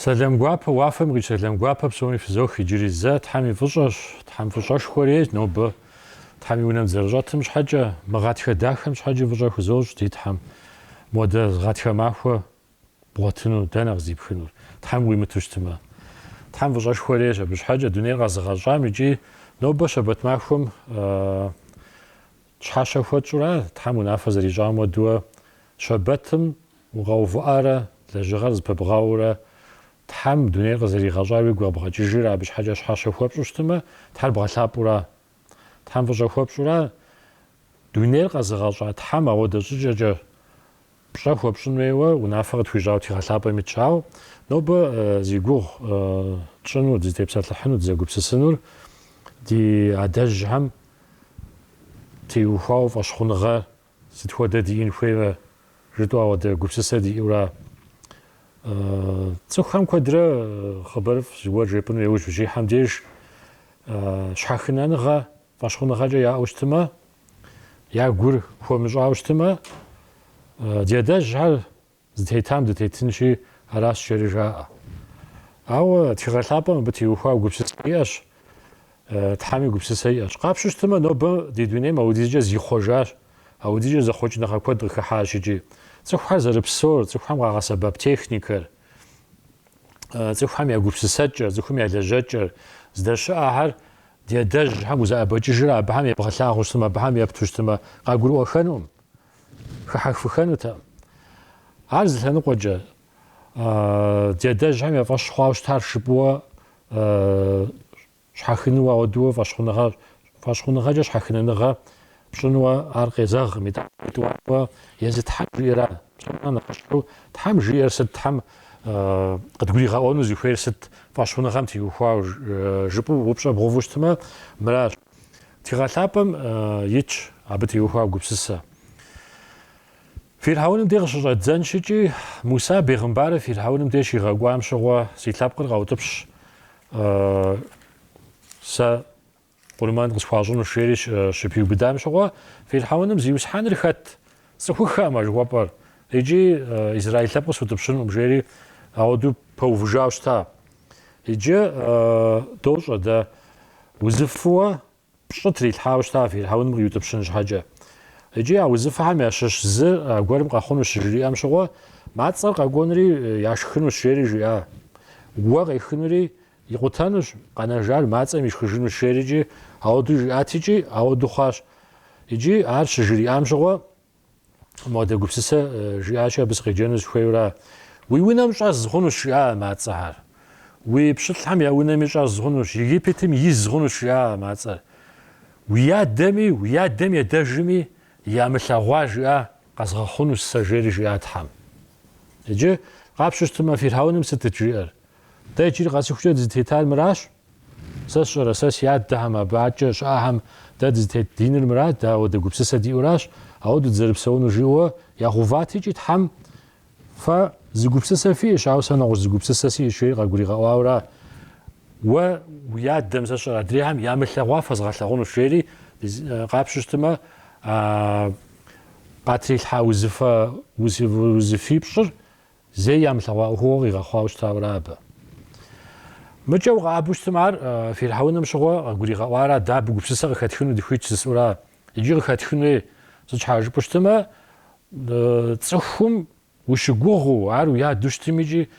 Сэлам гуапэ уафэм къикӏ сэлам гуапэ псоми фызох иджыри зэ Тхьэм и фӏыщӏэщ, Тхьэм фӏыщӏэшхуэ рейщ нобэ Тхьэм и унэм дызэрыщӏэтым щхьэкӏэ, мы гъатхэ дахэм щхьэкӏэ фӏыщӏэ хузощӏ ди Тхьэм. Модэ гъатхэ махуэ бгъуэтыну дэнэ къыздипхынур, Тхьэм уимыту щытымэ? Тхьэм фӏыщӏэшхуэ рейщ абы щхьэкӏэ дунейр къэзыгъэщӏам икӏи нобэ щэбэт махуэм Щхьэщэ хуэтщӏура, Тхьэм унафэ зэрищӏам уэдуэ, щэбэтым укъэувыӏэрэ, лэжьыгъэр зыпыбгъэурэ, Тхьэм дунейр къызэригъэщӏар уигу къэбгъэкӏыжрэ абы щхьэкӏэ щхьэщэ хуэпщӏу щытымэ, Тхьэр бгъэлъапӏэура? Тхьэм фӏыщӏэ хуэпщӏура? Дунейр къэзыгъэщӏа Тхьэм ауэдэ щӏыкӏэкӏэ Пщӏэ хуэпщӏын хуейуэ унафэ къытхуищӏауэ тхыгъэ лъапӏэм итщ, ауэ нобэ зи гугъу тщӏыну, дызытепсэлъыхьыну, дызэгупсысынур ди адэжьхэм теухуауэ фӏэщхъуныгъэ сыт хуэдэ диӏэн хуеймэ жытӏэу ауэдэ гупсысэ диӏэура? Цӏыхухэм куэдрэ хъыбарыфӏ зыгуэр жепӏыну иужь ущихьэм деж щхьэхынэныгъэ, Фӏэщхъуныгъэкӏэ яӏэу щытымэ, я гур хуэмыщӏауэ щытымэ, ди адэжьхэр зытетам дытетынщи, аращ жери жаӏэ. Ауэ тхыгъэ лъапӏэм абы теухуауэ гупсысэ иӏэщ, Тхьэми гупсысэ иӏэщ. Къапщу щытымэ, нобэ ди дунейм аудизкӏэ зихъуэжащ, аудизкӏэ зэхъуэкӏыныгъэ куэд къыхыхьащ икӏи. Цӏыхухэр зэрыпсор, цӏыхухэм къагъэсэбэп техникэр, цӏыхухэм я гупсысэкӏэр, цӏыхухэм я лэжьэкӏэр, здэщыӏэхэр Ди адэжьхэм узэӏэбэкӏыжрэ абыхэм ебгъэлъагъуэу щытмэ, абыхэм епту щытмэ, къагурыӏуэхэнукъым, хыхьэхыфыхэнутэкъым. Ар зы лъэныкъуэкӏэ, ди адэжьхэм я фӏэщ хъуауэ щытар жыпӏууэ щхьэхынууэ ауэдууэ фӏэщхъуныгъэ, фӏэщхъуныгъэкӏэ щхьэхынэныгъэ Пщӏынуэ ар къезэгъкъым, итӏанэ тӏуакӏуэ езы Тхьэм жиӏэра? Псоми нэхъыщхьэу, Тхьэм жиӏэр сыт, Тхьэм къыдгуригъэӏуэну зыхуейр сыт, фӏэщхъуныгъэм теухуауэ жыпӏэу упщӏэ бгъэуву щытмэ, мыращ. Тхыгъэ лъапӏэм итщ абы теухуа гупсысэ. Фирхьэуным де къыщыщӏэддзэнщ икӏи, Муса бегъымбарыр Фирхьэуным де щигъэкӏуам щыгъуэ, си лъэпкъыр къэутӏыпщ сэ Къурмэн къысхуащӏынущ жери щыпиубыдам щыгъуэ, Фирхьэуным Зиусхьэныр хэт? Сцӏыхуххэкъым а жыхуэпӏэр, икӏи израил лъэпкъ сутӏыпщынукъым, жери ауэдэу пэувыжауэ щыта. Иджы дощӏэ дэ, узыфыуэ пщӏы трилъхьауэ щыта Фирхьэуным къиутӏыпщын щхьэкӏэ. Икӏи а узыфэхэм ящыщ зы гуэрым къэхъунущ жыриӏэм щыгъуэ, мацӏэр къэкӏуэнри яшхынущ, жери жиӏа. Уэ къехынури Икъутэнущ, къэнэжар мацӏэм ишхыжынущ жери икӏи ауэду жиӏат икӏи ауэду хъуащ. Икӏи ар щыжриӏам щыгъуэ модэ гупсысэ жиӏакӏэ абы сыкъеджэну сыхуейура? Уи унэм щӏэз хъунущ жиӏа а мацӏэхэр. Уи пщылӏхэм я унэми щӏэз хъунущ, Египетым из хъунущ жиӏа а мацӏэр. Уи адэми, уи адэм и адэжми ямылъэгъуа жиӏа къэзгъэхъунущ сэ жери жиӏа Тхьэм. Иджы къапщу щытымэ, Фирхьэуным сытыт жиӏэр? Дэ иджыри къэсыхукӏэ дызытетар мыращ. Сэ сщӏэрэ, сэ си адэхэм, абы адэкӏэ щыӏэхэм дэ дызытет диныр мырат, дэ ауэдэ гупсысэ диӏуращ, ауэду дызэрыпсэунур, жиӏэуэ игъуват икӏи Тхьэм, Фэ зы гупсысэ фиӏэщ, ауэ сэ нэгъуэщӏ зы гупсысэ сиӏэщ, жери къагуригъэӏуауэра, Уэ уи адэм, сэ сщӏэрэ, адрейхэм ямылъэгъуа фэзгъэлъэгъунущ, жери къапщу щытмэ, къатрилъхьа узыфэ, узыфипщӏыр Зэи ямылъэгъуа ӏуэхугъуэ къигъэхъуауэ щытауэра абы? Мыкӏэ укъэӏэбэу щытым ар Фирхьэуным щыгъуэ къыгуригъэӏуара, дэ абы гупсысэ къыхэтхыну дыхуит жысӏэура? Икӏи къыхэтхын хуей, сыт щхьэ жыпӏэу щытымэ, цӏыхум ущыгугъыу, ар уи адэу щытым икӏи,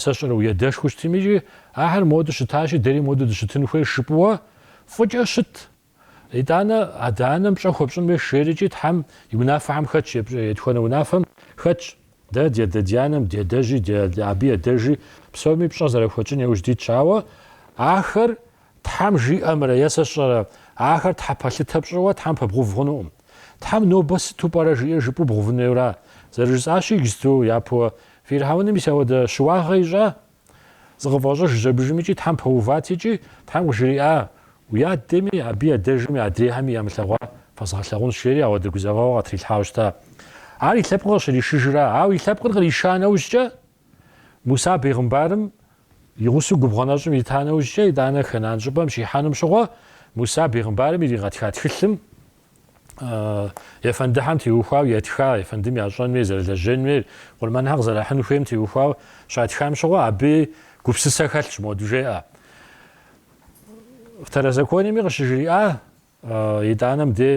сэ сщӏэрэ, уи адэшхуэу щытым икӏи, ахэр модэ щытащи, дэри модэ дыщытын хуейр жыпӏуэ фӏыкӏэ щыт. Итӏанэ, адэ-анэм пщӏэ хуэпщӏын хуейщ жери икӏи Тхьэм и унафэхэм хэтщ, етхуэнэ унафэм хэтщ. Дэ ди адэ-ди-анэм, ди адэжьи, абы и адэжи, псоми пщӏэ зэрахуэтщӏын яужь дитщ. Ауэ ахэр Тхьэм жиӏэмрэ е сэ сщӏэрэ, ахэр Тхьэ пэлъытэ пщӏыуэ Тхьэм пэбгъув хъунукъым. Тхьэм нобэ сыту пӏэрэ жиӏэр жыпӏэу бгъувын хуейуэра? Зэрыжысӏащи, иджыпсту япэуэ Фирхьэуным мис ауэдэ щыуагъэ ищӏа? Зыкъыфӏэщӏыж жьэбыжым икӏи Тхьэм пэуват икӏи Тхьэм къыжриӏа, Уи адэми, абы и адэжми, адрейхэми ямылъэгъуа фэзгъэлъагъунщ, жери ауэдэ гузэвэгъуэ къытрилъхьауэ щыта. Ар и лъэпкъыр къыщришыжра? Ауэ и лъэпкъыр къриша нэужькӏэ, Муса бегъымбарым и гъусэу губгъуэ нэщӏым ита нэужькӏэ, итӏанэ Хэнан щӏыпӏэм щихьэнум щыгъуэ, Муса бегъымбарым иригъэтха тхылъым, ефэндыхьэм теухуау ятха, ефэндым ящӏэнуи, зэрылэжьэнуи, къурмэнхэр къызэрахьын хуейм теухуау щатхам щыгъуэ, абы гупсысэ хэлъщ, моду жеӏэ. Второзакониеми къыщыжриӏа, итӏанэ мыдэ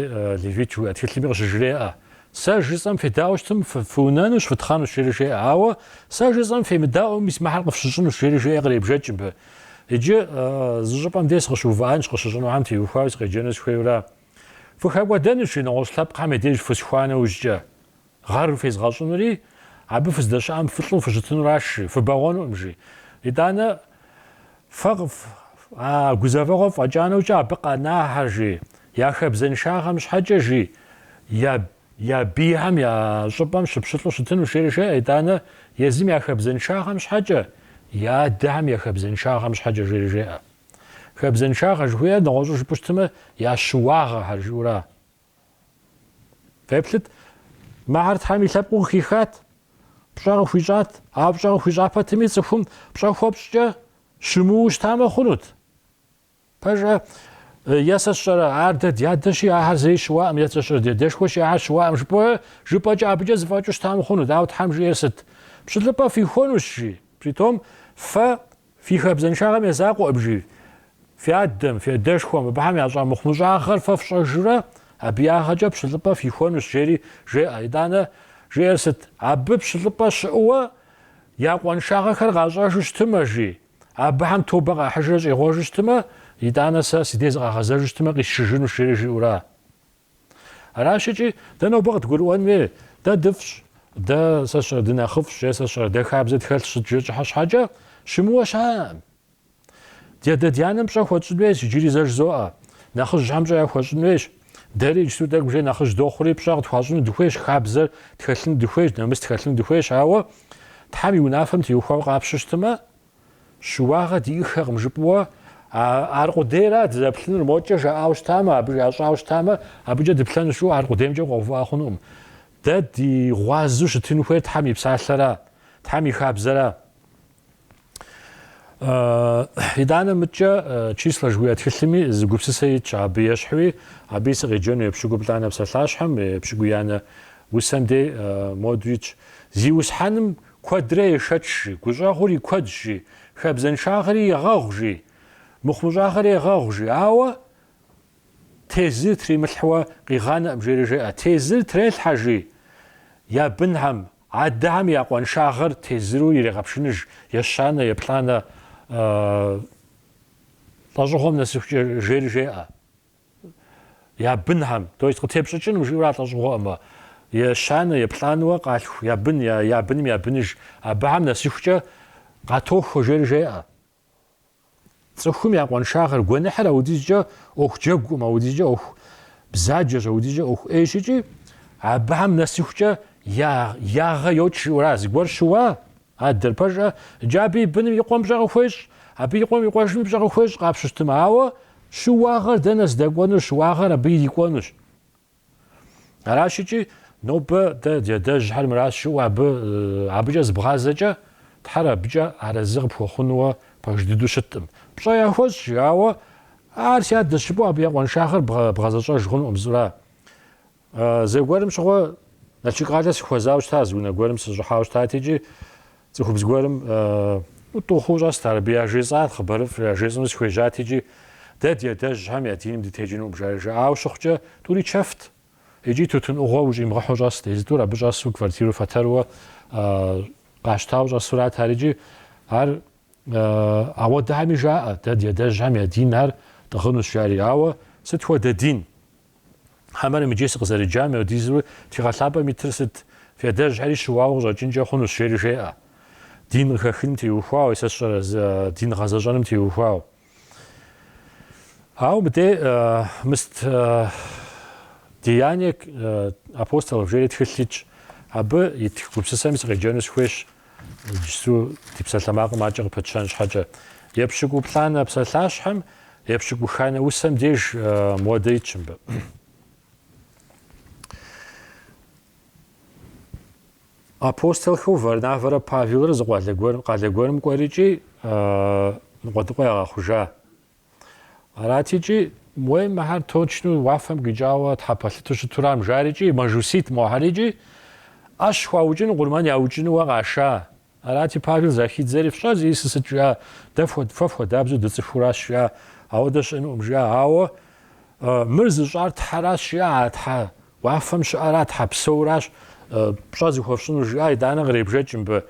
Левит жыхуиӏэ тхылъми къыщыжреӏэ. Сэ жысӏэм федаӏуэу щытым, фыунэнущ, фытхъэнущ, жери жеӏэ. Ауэ сэ жысӏэм фемыдаӏуэм, мис мыхьэр къыфщыщӏынущ, жери жеӏэ, къребжэкӏ мыбы. Иджы зы щӏыпӏэм дей сыкъыщыувыӏэнщ, къыщыщӏынухэм теухуауэ сыкъеджэну сыхуейура. Фыхэкӏуэдэнущ, жи, нэгъуэщӏ лъэпкъхэм я деж фысхуа нэужькӏэ. Гъэр фезгъэщӏынури, абы фыздэщыӏэм фылӏу фыщытынуращ, жи, фыбэгъуэнукъым, жи. Итӏанэ, фэ а гузэвэгъуэр фӏэкӏа нэужькӏэ абы къэнахьэр, жи, я хабзэншагъэм щхьэкӏэ, жи, я Я бийхэм я щӏыпӏэм щыпщылӏу щытыну жери жеӏэ, итӏанэ езым я хабзэншагъэм щхьэкӏэ, я адэхэм я хабзэншагъэм щхьэкӏэ жери жеӏэ. Хабзэншагъэ жыхуиӏэр нэгъуэщӏу жыпӏэу щытмэ, я щыуагъэхэр жиӏэура? Феплъыт, мыхэр Тхьэм и лъэпкъыу къыхихат, пщӏэ къыхуищӏат, ауэ пщӏэ къыхуищӏа пэтми цӏыхум пщӏэ хуэпщӏкӏэ щымыуэу щытамэ хъунут. Пэжа, е сэ сщӏэрэ, ар дэ дядэщи, ахэр зэи щыуаӏым, е сэ сщӏэрэ, дядэшхуэщи, ахэр щыуаӏым, жыпӏэ, жыпӏэкӏэ абыкӏэ зыфӏэкӏыу щытам хъунут, ауэ Тхьэм жиӏэр сыт? Пщылӏыпӏэ фихуэнущ, жи. При том, фэ фи хабзэншагъэм я закъуэкъым, жи, фи адэм, фи адэшхуэм, абыхэм ящӏа мыхъумыщӏагъэр фэ фщӏэжурэ, абы я ягъэкӏэ пщылӏыпӏэ фихуэнущ, жери жеӏэ. Итӏанэ, жиӏэр сыт? Абы пщылӏыпӏэ щыӏэу, я къуаншагъэхэр къащӏэжу щытымэ, жи. Абыхэм тобэ къахьыжрэ щӏегъуэжу щытмэ, итӏанэ сэ си дей зыкъагъэзэжу щытмэ, къисшыжынущ, жери жиӏэура? Аращ икӏи, дэ нобэ къыдгурыӏуэн хуей, дэ дыфӏщ, дэ, сэ сщӏэрэ, дынэхъыфӏщ е сэ сщӏэрэ, дэ хабзэ тхэлъщ сыт жи щӏыхьэ щхьэкӏэ, щымыуэ щыӏэкъым. Дядэ-дянэм пщӏэ хуэтщӏын хуейщ, иджыри зэ жызоӏэ, нэхъыжьхэм пщӏэ яхуэщӏын хуейщ, Дэри иджыпсту тӏэкӏу уже нэхъыжь дохъури, пщӏэ къытхуащӏыну дыхуейщ, хабзэр тхэлъыну дыхуейщ, нэмыс тхэлъыну дыхуейщ, ауэ Тхьэм и унафэм теухуауэ къапщтэу щытмэ, щыуагъэ диӏэххэкъым жыпӏэуэ, ар къудейра дызэплъынур, мокӏэ жаӏауэ щытамэ, абы щащӏауэ щытамэ, абыкӏэ дыплъэнущ жыу ар къудеймкӏэ укъэувыӏэ хъунукъым. Дэ ди гъуазэу щытын хуейр Тхьэм и Псалъэра, Тхьэм и хабзэра. Итӏанэ мыдкӏэ Числэ жыхуиӏэ тхылъми зы гупсысэ итщ абы ещхьуи, абыи сыкъеджэну епщыкӏуплӏанэ псалъащхьэм, епщыкӏуиянэ усэм дей моду итщ. Зиусхьэным куэдрэ ешэч, жи, гущӏэгъур и куэдщ, жи, хабзэншагъэри егъэгъу, жи, мыхъумыщӏагъэри егъэгъу, жи, ауэ тезыр тримылъхьуэ къигъанэкъым, жери жеӏэ. Тезыр трелъхьэ, жи, я бынхьэм. Адэхэм я къуаншагъэр тезыру ирегъэпшыныж, ещанэ, еплӏанэ лӏэщӏыгъуэм нэсыхукӏэ жери жеӏэ я бынхэм, то есть къытепщӏыкӏыну жиӏэура а лӏэщӏыгъуэӏымэ, ещанэ, еплӏанэуэ къалъху я бын, я быным я быныж, абыхэм нэсыхукӏэ къатохуэ жери жеӏэ. Цӏыхум я къуаншагъэр гуэныхьыр аудизкӏэ ӏуэху джэгукъым, аудизкӏэ ӏуэху бзаджэщ, аудизкӏэ ӏуэху ӏейщ икӏи абыхэм нэсыхукӏэ я ягъэ йокӏ жиӏэура. Зыгуэр щыуа? Адэр пэжӏэ, иджы абы и быным и къуэм пщӏэ къыхуещӏ, абы и къуэм и къуэжыми пщӏэ къыхуещӏ къапщтэу щытмэ, ауэ щыуагъэр дэнэ здэкӏуэнур, щыуагъэр абы ирикӏуэнущ. Аращикӏи, нобэ дэ ди адэжьхэр мыращ жыпӏэу абы, абыкӏэ зыбгъазэкӏэ, Тхьэр абыкӏэ арэзы къыпхуэхъунууэ пэж дыдэу щыткъым. Пщӏэ яхуэщӏ, жиӏауэ, Ар си адэщ жыпӏэу абы я къуэншагъэр бгъэзэщӏэж хъунукъым зыӏура? Зэгуэрым щыгъуэ Налшык къалэ сыхуэзауэ щытащ, зы унэ гуэрым сыщӏыхьауэ щытати икӏи, Цӏыхубз гуэрым тӏу хъуу щӏэст ар, абы яжесӏар хъыбарыфӏ яжесӏэну сыхуежьат икӏи, Дэ ди адэжьхэм я диным дытекӏынукъым, жаӏэ. Жаӏауэ щыхъукӏэ, тӏури чэфт икӏи тутын ӏугъуэ ущӏимыгъэхьэу щӏэст. Езы тӏур абы щӏэсу квартиру фэтэрууэ къащтауэ щӏэсурат ар икӏи. Ар ауэдэхьэми жаӏэ, Дэ ди адэжьхэм я дин ар тӏыгъынущ, жари. Ауэ сыт хуэдэ дин? Хьэмэрым иджы сыкъызэреджам хуэдизу тхыгъэ лъапӏэм итыр сыт? Фи адэжьхэри щыуауэ къыщӏэкӏынкӏэ хъунущ, жери жеӏэ. Дин къыхэхыным теухуауэ, сэ сщӏэрэ, дин гъэзэщӏэным теухуауэ. Ауэ мыдей мыст Деяния апостолов жери тхылъ итщ. Абы ит гупсысэми сыкъеджэну сыхуейщ. Иджыпсту ди псалъэмакъым акӏэ къыпэтщэн щхьэкӏэ. Епщыкӏуплӏанэ псалъащхьэм, епщыкӏуханэ усэм деж моуэдэ итщ мыбы. Апостолхэу Варнавэрэ Павелрэ зы къалэ гуэр къалэ гуэрым кӏуэрыкӏи, ныкъуэдыкъуэ ягъэхъужа. Аратикӏи, уей, мыхьэр точно уафэм къикӏауэ тхьэ пэлъыту щытурам, жарикӏи, мэжусийт мохьэрикӏи, ӏэщ хуаукӏыну къурмэн яукӏынууэ къаша. Арати, Павел захидзэри, фщӏэр зищӏысыр сыт жиӏа, дэ фэ фхуэдабзэу дыцӏыхууращ жиӏа, ауэдэ щыӏэнукъым жиӏа, ауэ мыр зыщӏар Тхьэращ жиӏа, а Тхьэ уафэм щыӏэра, Тхьэ псэуращ пщӏэ зыхуэфщӏыну жиӏа, итӏанэ къребжэкӏ мыбы.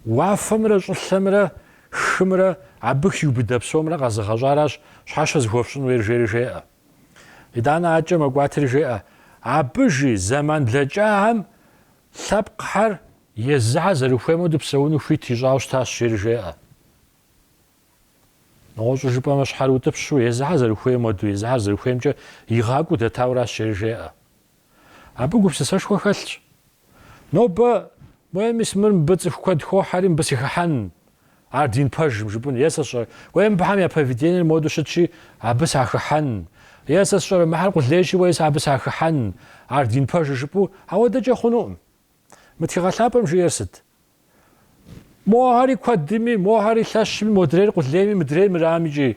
Уафэмрэ щӏылъэмрэ Хымрэ абы хиубыдэ псомрэ къэзыгъэщӏаращ щхьэщэ зыхуэфщӏын хуейр, жери жеӏэ. Итӏанэ акӏэ мэкӏуатри жеӏэ, Абы, жи, зэман блэкӏахэм лъэпкъхэр езыхьэр зэрыхуейм хуэдэу псэуну хуит ищӏауэ щытащ, жери жеӏэ. Нэгъуэщӏу жыпӏэмэ, щхьэрыутӏыпщу, езыхьэр зэрыхуейм хуэдэу, езыхьэр зэрыхуеймкӏэ игъакӏуэу дэтауращ, жери жеӏэ. Абы гупсысэшхуэ хэлъщ. Нобэ, уей, мис мыр мыбы цӏыху куэд хохьэри, мыбы сыхыхьэн, ар дин пэжым, жыпӏэн. Е сэ сщӏэрэ, уей, мыбыхэм я поведениер моду щытщи, абы сахыхьэн. Е сэ сщӏэрэ, мыхьэр къулейщи, уей, сэ абы сахыхьэн, ар дин пэжыр, жыпӏэу. Ауэдэкӏэ хъунукъым. Мы тхыгъэ лъапӏэм жиӏэр сыт? Мохэри куэдми, мохэри лъэщми, модрейр къулейми, мыдрейр мырам икӏи.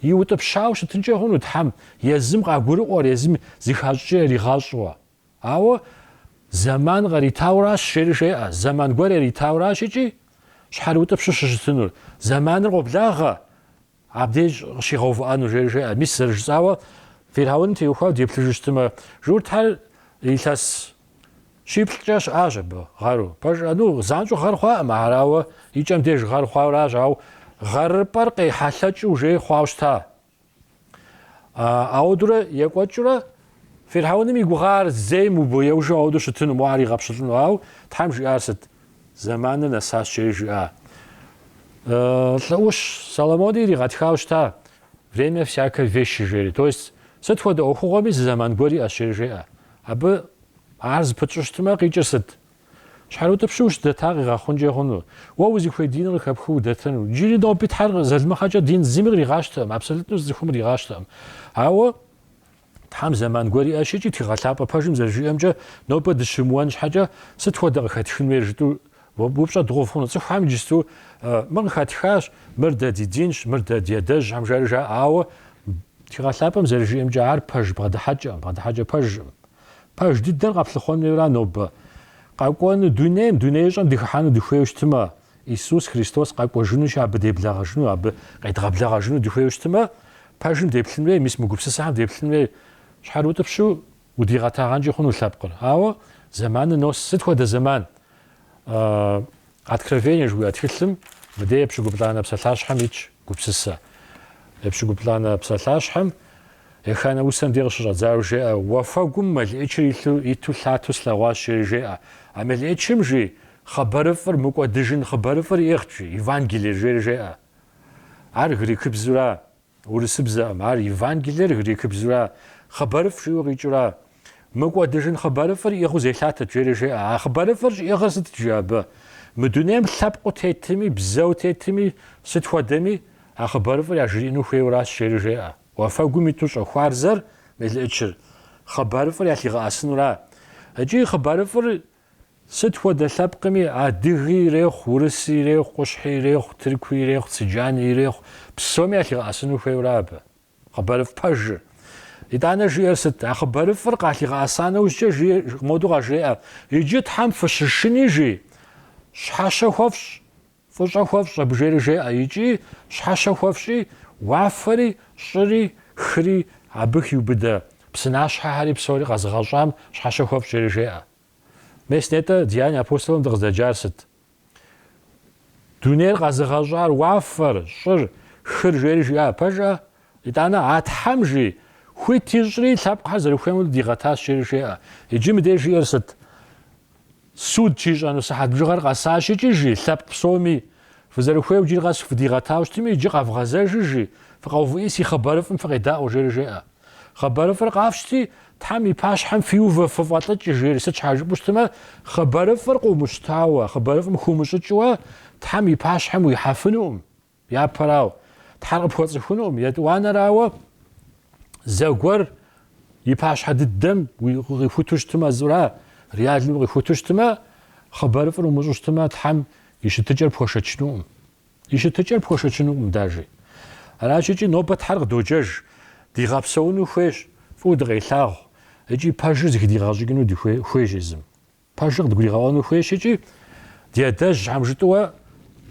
Иутӏыпщауэ щытынкӏэ хъуну Тхьэм, езым къагурыӏуэр, езым зыхащӏкӏэ яригъащӏэуэ. Ауэ зэман къаритауращ, жери жеӏэ, зэман гуэр яритауращ икӏи, щхьэрыутӏыпщу щыщытынур. Зэманыр къоблагъэ, Абдеж къыщигъэувыӏэну, жери жеӏэ. Мис зэрыжысӏауэ, Фирхьэуным теухуауэ деплъыжу щытымэ, журтхэр илъэс щиплӏкӏэ щыӏащ абы, гъэру. Пэжщ, а, ну, занщӏэу гъэр хъуакъым ахэр, ауэ и кӏэм деж гъэр хъуауэращ, ауэ гъэрыпӏэр къехьэлъэкӏыу уже хъуауэ щыта. Ауэдурэ екӏуэкӏыурэ, Фирхьэуным и гугъэ ар зейм убоеужу ауэду щытыну, мо ар игъэпщылӏыну. Ауэ Тхьэм жиӏар сыт? Зэманыр нэсащэри жиӏа. Лӏы ӏущ Соломони иригъэтхауэ щыта, время всякой вещи жери. То есть, сыт хуэдэ ӏуэхугъуэми зы зэман гуэр иӏэщ жери жеӏэ. Абы ар зыпытщӏу щытмэ, къикӏыр сыт? Щхьэрыутӏыпщу ущыдэта къигъэхъункӏэ хъуну? Уэ узыхуей диныр къыхэпхыу удэтэну? Джыри ноби Тхьэр залымыгъэкӏэ дин зыми къригъащтэкъым, абсолютно зы цӏыхум къригъащтэкъым. Ауэ Тхьэм зэман гуэр иӏэщ икӏи тхыгъэлъапӏэ пэжым зэрыжиӏэмкӏэ, нобэ дыщымыуэн щхьэкӏэ, сыт хуэдэ къыхэтхын хуейр жытӏу упщӏэ дгъэув хъуну? Цӏыхухэм иджысту мы къыхэтхащ, мыр дэ ди динщ, мыр дэ ди адэжьхэм жари жаӏэ, ауэ тхыгъэлъапӏэм зэрыжиӏэмкӏэ ар пэж бгъэдыхьэкӏэкъым, бгъэдыхьэкӏэ пэжкъым. Пэж дыдэр къэплъыхъуэн хуейуэ ара нобэ? Къэкӏуэну дунейм, дунеищӏэм дыхыхьэну дыхуейуэ щытмэ, Исус Христос къэкӏуэжынущи, абы деблэгъэжыну, абы къедгъэблэгъэжыну дыхуейуэ щытымэ, пэжым деплъын хуей, мис мы гупсысэхэм деплъын хуей. Щхьэрыутӏыпщу удигъэтагъэнкӏи хъуну лъэпкъыр. Ауэ зэманыр нос сыт хуэдэ зэман? Откровение жыхуиӏэ тхылъым мыдей епщыкӏуплӏанэ псалъащхьэм итщ гупсысэ. Епщыкӏуплӏанэ псалъащхьэм еханэ усэм дей къыщыщӏэдзауэ жеӏэ, Уафэгум мелыӏычыр илъу иту лъату слъэгъуащ, жери жеӏэ. А мелыӏычым, жи, Хъыбарыфӏыр мыкӏуэдыжын хъыбарыфӏыр иӏыгъ, жи, Евангелие жери жеӏэ. Ар грекыбзура, урысыбзэкъым, ар Евангелиер грекыбзура, хъыбарыфӏ жиӏэу къикӏыра. Мыкӏуэдыжын хъыбарыфӏыр иӏыгъыу зелъатэт жери жеӏэ. А хъыбарыфӏыр щӏиӏыгъыр сытт жи абы? Мы дунейм лъэпкъыу тетми, бзэу тетми, сыт хуэдэми, а хъыбарыфӏыр яжриӏэну хуейуэращ жери жеӏэ. Уафэгум иту щӏэхуарзэр, мелыӏычыр, хъыбарыфӏыр ялъигъэӏэсынура. Икӏи хъыбарыфӏыр Сыт хуэдэ лъэпкъми, адыги ирехъу, урыси ирехъу, къущхьи ирехъу, тыркуи ирехъу, цыджани ирехъу, псоми ялъигъэӏэсыну хуейуэ ара абы? Хъыбарыфӏ пэжыр. Итӏанэ жиӏэр сыт? А хъыбарыфӏыр къалъигъэӏэса нэужькӏэ жи, моду къажреӏэ, Иджы Тхьэм фыщышыни, жи, щхьэщэ хуэфщӏ. Фӏыщӏэ хуэфщӏ абы, жери жеӏэ икӏи щхьэщэ хуэфщӏи, уафэри, щӏыри, хыри абы хиубыдэ псынащхьэхэри псори къэзыгъэщӏам щхьэщэ хуэфщӏ жери жеӏэ. Мес нетӏэ Деяния апостолым дыкъыздэджар сыт? Дунейр къэзыгъэщӏар уафэр, щӏыр, хыр жери жиӏа пэжкъэ? Итӏанэ, а Тхьэм жи, хуит ищӏри, лъэпкъхэр зэрыхуейм хуэдэу дигъэтащ жери жеӏэ. Иджы мыдеж жиӏэр сыт? Суд щищӏэну сыхьэт бжыгъэр къэсащ икӏи, жи, лъэпкъ псоми, фызэрыхуейуэ иджыри къэс фыдигъэтауэ щытми, иджы къэвгъэзэжыжи, фыкъэувыӏи си хъыбарыфӏым фыкъедаӏуэ, жери жеӏэ. Хъыбарыфӏыр къафщти, Тхьэм и пащхьэм фиувэ фыфӏэлӏыкӏ, жери, сыт щхьэ жыпӏэу щытмэ, хъыбарыфӏыр къыумыщтауэ, хъыбарыфӏым хыумыщӏыкӏыуэ Тхьэм и пащхьэм уихьэфынукъым. Япэрауэ, Тхьэр къыпхуэцӏыхунукъым, етӏуанэрауэ, зэгуэр и пащхьэ дыдэм укъихуту щытмэ, зыра реально укъихуту щытмэ, хъыбарыфӏыр умыщӏу щытмэ, Тхьэм и щытыкӏэр пхуэшэчынукъым. И щытыкӏэр пхуэшэчынукъым даже. Аращ икӏи нобэ Тхьэр къыдоджэж, дигъэпсэуну хуейщ, фӏыуэ дыкъелъагъу, икӏи пэжыр зыхыдигъэщӏыкӏыну хуейщ езым. Пэжыр къыдгуригъэӏуэну хуейщ икӏи ди адэжь щхьэм жытӏэуэ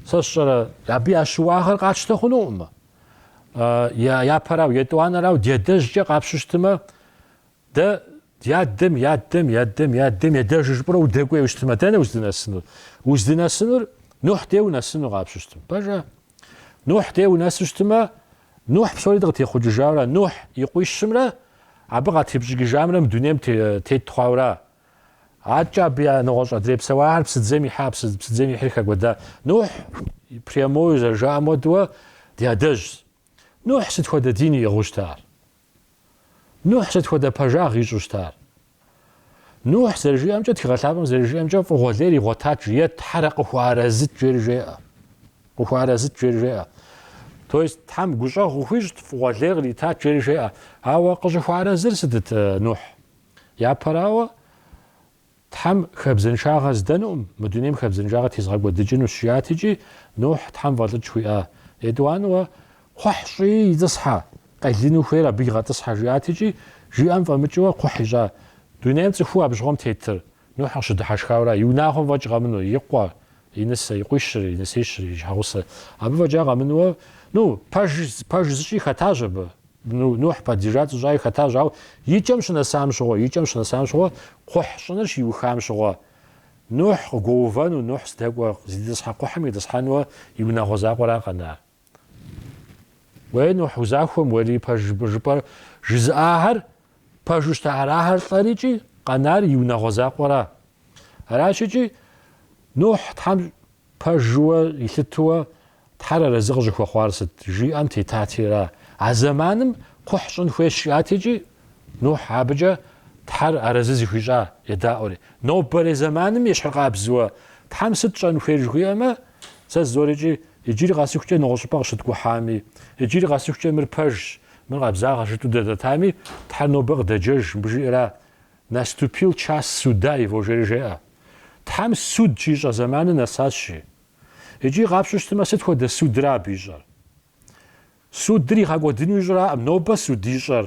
сэ сщӏэрэ абы я щыуагъэр къатщтэ хъунукъым. Я япэрау, етӏуанэрау ди адэжькӏэ къапщу щытымэ, дэ ди адэм и адэм, и адэм, и адэм и адэжу жыпӏэрэ удэкӏуейуэ щытымэ, дэнэ уздынэсынур? Уздынэсынур Нухь дей унэсыну къапщу щытым. Пэжа? Нухь дей унэсу щытымэ, Нухь псори дыкъытехъукӏыжауэра, Нухь и къуищымрэ абы къатепщӏыкӏыжамрэ мы дунейм тет хъуауэра? Адэкӏэ абы я нэгъуэщӏ адрей псэуахэр псыдзэм ихьа, псыдзэм ихьри хэкӏуэда. Нухь прямой зэрыжаӏэм хуэдэуэ ди адэжьщ. Нухь сыт хуэдэ дин иӏыгъыу щыта ар? Нухь сыт хуэдэ пэжагъ ищӏу щыта ар? Нухь зэрыжиӏэмкӏэ, Тхыгъэ Лъапӏэм зэрыжиӏэмкӏэ, фӏыгъуэ лейр игъуэтат, жи, Тхьэр къыхуэарэзыт жери жеӏэ. То есть Тхьэм гущӏэгъу къыхуищӏт, фӏыгъуэ лейр къритат жери жеӏэ. Ауэ къыщӏыхуэарэзыр сытыт Нухь? Япэрауэ, Тхьэм хабзэншагъэ здэнукъым, мы дунейм хабзэншагъэ тезгъэкӏуэдыкӏынущ, жиӏат икӏи, Нухь Тхьэм фӏэлӏыкӏ хуиӏа. Етӏуанэуэ кхъухь щӏи итӏысхьэ, къелыну хуейр абы игъэтӏысхьэ, жиӏат икӏи, жиӏэм фӏэмыкӏыуэ кхъухь ищӏа. Дунейм цӏыхуу абы щыгъуэм тетыр, Нухь къыщыдыхьэшхауэра, и унагъуэм фӏэкӏ къэмыну, и къуэ, и нысэ, и къуищыр, и нысищыр, и щхьэгъусэ, абы фӏэкӏа къэмынуэ, ну, пэж, пэж зыщӏи хэтащ абы, ну, Нухь поддержать зыщӏаи хэтащ, ауэ и кӏэм щынэсам щыгъуэ, и кӏэм щынэсам щыгъуэ, кхъухь щӏыныр щиухам щыгъуэ, Нухь къыгуэувэну, Нухь здэкӏуэ, зыдэтӏысхьэ кхъухьым итӏысхьэнуэ и унагъуэ закъуэра къэнар. Уей, Нухь, узахуэм уэри пэжщ жыпӏэр жызыӏахэр пэжу щта арахэр лӏэр икӏи къэнар и унагъуэ закъуэра? Аращ икӏи, Нухь Тхьэм пэжуэ илъытэуэ Тхьэр арэзы къыщӏыхуэхъуар сыт? жиӏэм тетати ара? А зэманым кхъухь щӏын хуейщ жиӏат икӏи, Нухь абыкӏэ Тхьэр арэзы зыхуищӏа? едаӏуэри. Нобэрей зэманым ещхьыркъабзуэ Тхьэм сыт щӏэн хуей жыхуиӏэмэ, Сэ сызорыкӏи, иджыри къэсыхукӏэ нэгъуэщӏыпӏэ къыщыткӏухьами, иджыри къэсыхукӏэ мыр пэжщ, мыр къабзагъэ жытӏэу дадэтами, Тхьэр нобэ къыдэджэж, мыбы жиӏэра, Наступил час суда его, жери жеӏэ. Тхьэм суд щищӏэ зэманыр нэсащи. Икӏи къапщту щытмэ, сыт хуэдэ судра абы ищӏэр? Судыр игъэкӏуэдыну ищӏраӏым, нобэ суд ищӏэр.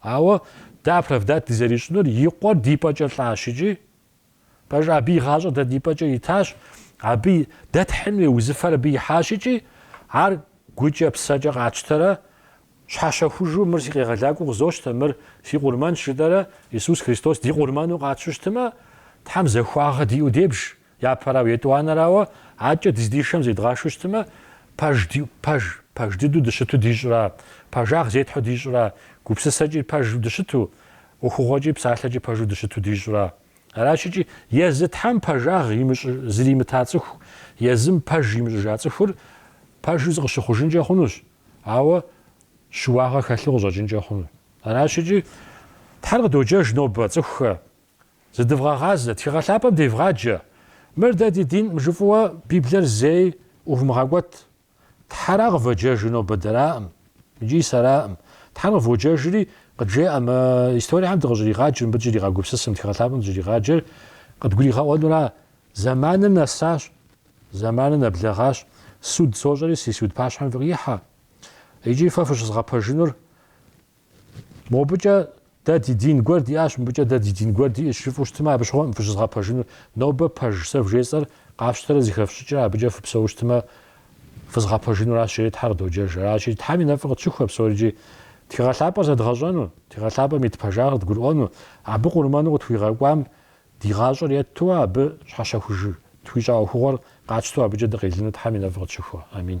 Ауэ дэ оправдать дызэрищӏынур и къуэр ди пӏэкӏэ лӏащ икӏи, пэжу, абы и гъащӏэр дэ ди пӏэкӏэ итащ, абы дэ тхьын хуей узыфэр абы ихьащ икӏи, ар гукӏэ, псэкӏэ къатщтэрэ, щхьэщэхужу, мыр си къегъэлакӏуэу къызощтэ, мыр си къурмэнщ жытӏэрэ, Исус Христос ди къурмэну къатщту щытымэ, Тхьэм захуагъэ диӏэу дебж, Япэрауэ, етӏуанэрауэ, акӏэ дыздишэм зедгъашу щытымэ, пэж ди, пэж, пэж дыдэу дыщыту дищӏра, пэжагъ зетхьу дищӏра, гупсысэкӏи пэжу дыщыту, ӏуэхугъуэкӏи псалъэкӏи пэжу дыщыту дищӏра? Аращи икӏи, езы Тхьэм пэжагъ имыщӏ, зримыта цӏыху, езым пэж имыщӏыжа цӏыхур пэжу зыкъыщыхъужынкӏэ хъунущ, ауэ щыуагъэ хэлъу къыщӏэкӏынкӏэ хъуну. Аращи икӏи, Тхьэр къыдоджэж нобэ цӏыхухэ, Зыдывгъэгъазэ, тхыгъэ лъапӏэм девгъаджэ. Мыр дэ ди динӏым жыфӏу Библиер зэи ӏувмыгъэкӏуэт. Тхьэра къывэджэжыр нобэ дэраӏым икӏи сэраӏым. Тхьэр къыводжэжри къыджеӏэ мы историехэм дыкъыщӏригъаджыр, мыбы дыщӏригъэгупсысыр, тхыгъэ лъапӏэм дыщӏригъаджэр къыдгуригъэӏуэнура? Зэманыр нэсащ, зэманыр нэблэгъащ, суд сощӏэри си суд пащхьэм фыкъихьэ икӏи фэ фыщызгъэпэжынур Мобыкӏэ дэ ди дин гуэр диӏащ, мыбыкӏэ дэ ди дин гуэр диӏэщ жыфӏу щытмэ, абы щыгъуэӏым фыщызгъэпэжынур. Нобэ пэж сэ вжесӏэр къафщтэрэ зыхэфщӏыкӏрэ абыкӏэ фыпсэуу щытмэ, фызгъэпэжынуращ, жери Тхьэр къыдоджэж. Аращи, Тхьэм и нэфӏыр къытщыхуэ псори икӏи тхыгъэлъапӏэр зэдгъэщӏэну, тхыгъэлъапӏэм ит пэжагъыр дгурыӏуэну, абы къурмэну къытхуигъэкӏуам ди гъащӏэр етту абы щхьэщэхуж тхуищӏа ӏуэхугъуэр къатщтэу абыкӏэ дыкъелыну Тхьэм и нэфӏыр къытщыхуэ. Амин.